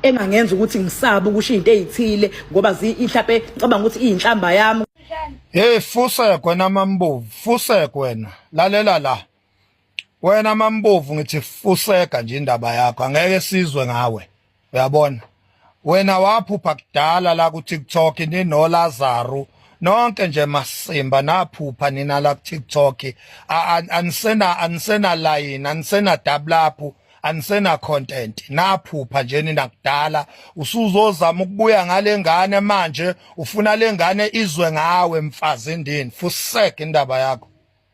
engangenza ukuthi ngisabe ukusho into ezithile ngoba inhlape ngicabanga ukuthi iyinhlamba yami hey fusek wena mambovu fusek wena lalela la wena mambovu ngithi fuseka nje indaba yakho angeke sizwe ngawe uyabona wena waphupha kudala la ku TikTok ni no Lazaro nonke nje masimba naphupha nina la ku TikTok anisena anisena line anisena double up anisena content naphupha nje nina kudala usuzozama ukubuya ngale ngane manje ufuna le ngane izwe ngawe mfazi ndini fusek indaba yakho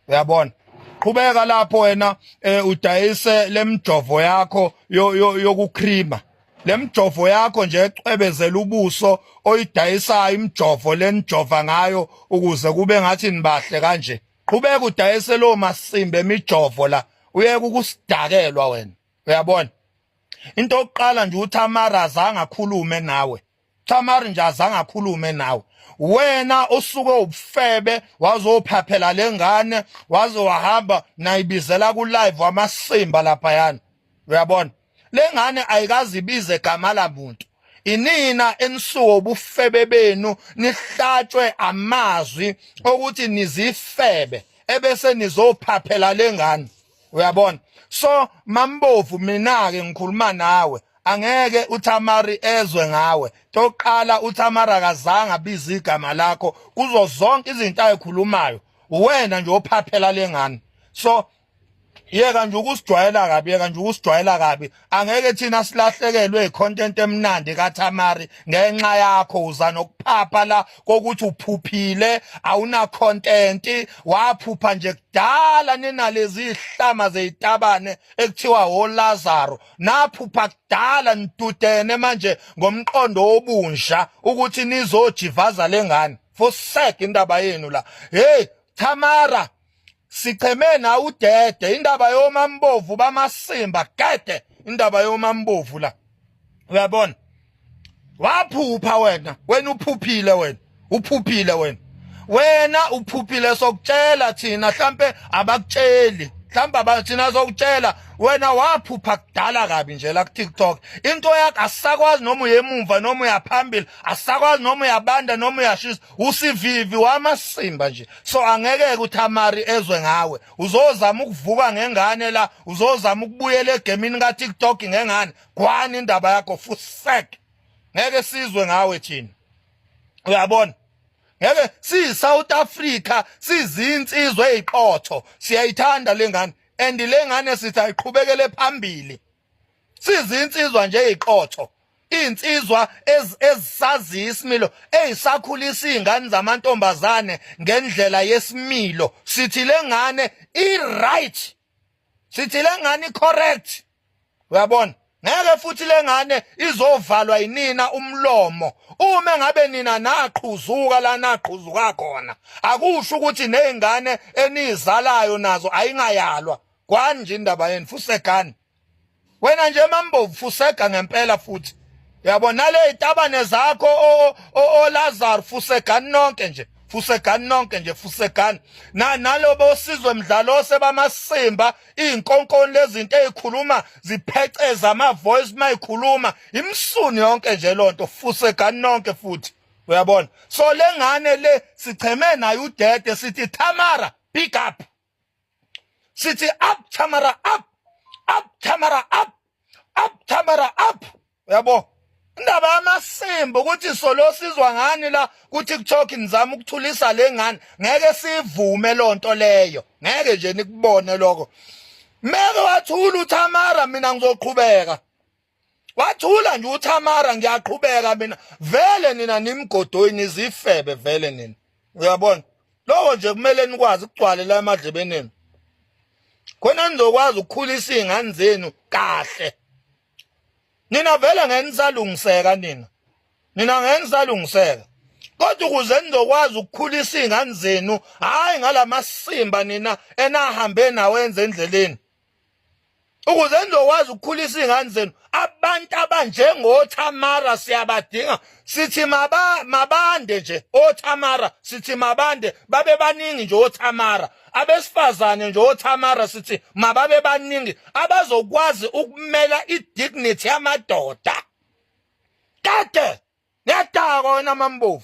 uyabona qhubeka lapho wena eh, udayise lemjovo yakho yokucreamer yo, yo lemjovo yakho nje ecwebezela ubuso oyidayisayo imjovo lenijova ngayo ukuze kube ngathi nibahle kanje qhubeka udayise lo masimbe emijovo la uyeke ukusidakelwa wena uyabona into yokuqala nje uThamara azange akhulume nawe Thamara nje azange akhulume nawe wena usuke ubufebe wazophaphela lengane waze wahamba nayibizela ku live wamasimba lapha yana uyabona lengane ayikazibize gama lamuntu inina enisuka ubufebe benu nihlatshwe amazwi okuthi nizifebe ebese nizophaphela lengane uyabona so mambovu mina ke ngikhuluma nawe angeke uThamari ezwe ngawe toqala uThamari akazange abize igama lakho kuzo zonke izinto ayikhulumayo uwena nje ophaphela lengane so yeka nje ukusijwayela kabi yeka nje ukusijwayela kabi angeke thina silahlekelwe icontent emnandi kaThamari ngenxa yakho uza nokuphapha la kokuthi uphuphile awuna content waphupha nje kudala ninalezi ihlama zezitabane ekuthiwa hoLazaro naphupha kudala nidudene manje ngomqondo obunja ukuthi nizojivaza lengane fosek indaba yenu la hey Thamara sicheme na udede indaba yomambovu bamasimba gede indaba yomambovu la uyabona waphupha wena wena uphuphile wena uphuphile wena wena uphuphile sokutshela thina mhlambe abakutsheli mhlawumbe thina sokutshela wena waphupha kudala kabi nje la ku-tiktok into yakho asisakwazi noma uyemumva noma uyaphambili asisakwazi noma uyabanda noma uyashisa usivivi wamasimba nje so angeke kuthamari ezwe ngawe uzozama ukuvuka ngengane la uzozama ukubuyela egemini ka TikTok ngengane kwani indaba yakho fusek ngeke sizwe ngawe thina uyabona ngeke si South Africa sizinsizwe eziqotho siyayithanda lengane and lengane sithi ayiqhubekele phambili sizinsizwa nje iqotho insizwa ezisaziyo isimilo ezisakhulisa izingane zamantombazane ngendlela yesimilo sithi lengane i right sithi lengane i correct uyabona ngeke futhi lengane izovalwa yinina umlomo uma ngabe nina naqhuzuka la naqhuzuka khona akusho ukuthi nezingane enizalayo nazo ayingayalwa kwani nje indaba yenu fusegani wena nje mambovu fusega ngempela futhi yabo nale itabane zakho o, o, o Lazar fusegani nonke nje fusegani nonke nje fusegani na nalobo osizwe mdlalo sebamasimba izinkonkoni lezinto ezikhuluma zipheceza ama voice mayikhuluma imsuni yonke nje lonto fusegani nonke futhi uyabona so lengane le sicheme nayo udede sithi Tamara pick up sithi up Tamara up up Tamara up up Tamara up yabo indaba yamasimba ukuthi solo sizwa ngani la kuthi kuTalk nizama ukuthulisa lengane ngeke sivume lonto leyo ngeke nje nikubone lokho meke wathula uTamara mina ngizoqhubeka wathula nje uThamara ngiyaqhubeka mina vele nina nimgodoyi nizifebe vele nina uyabona lowo nje kumele nikwazi ukugcwale la emadlebeni enu khona nizokwazi ukukhulisa izingane zenu kahle nina vele ngeke nisalungiseka nina nina ngeke nisalungiseka kodwa ukuze nizokwazi ukukhulisa izingane zenu hayi ngalamasimba nina enahambe nawenze endleleni ukuze nizokwazi ukukhulisa iy'ngane zenu abantu abanjengothamara siyabadinga sithi mabande nje othamara sithi mabande babe baningi nje othamara abesifazane nje othamara sithi mababe baningi abazokwazi ukumela i-dignity yamadoda kade ngiyadakwa wena mambovu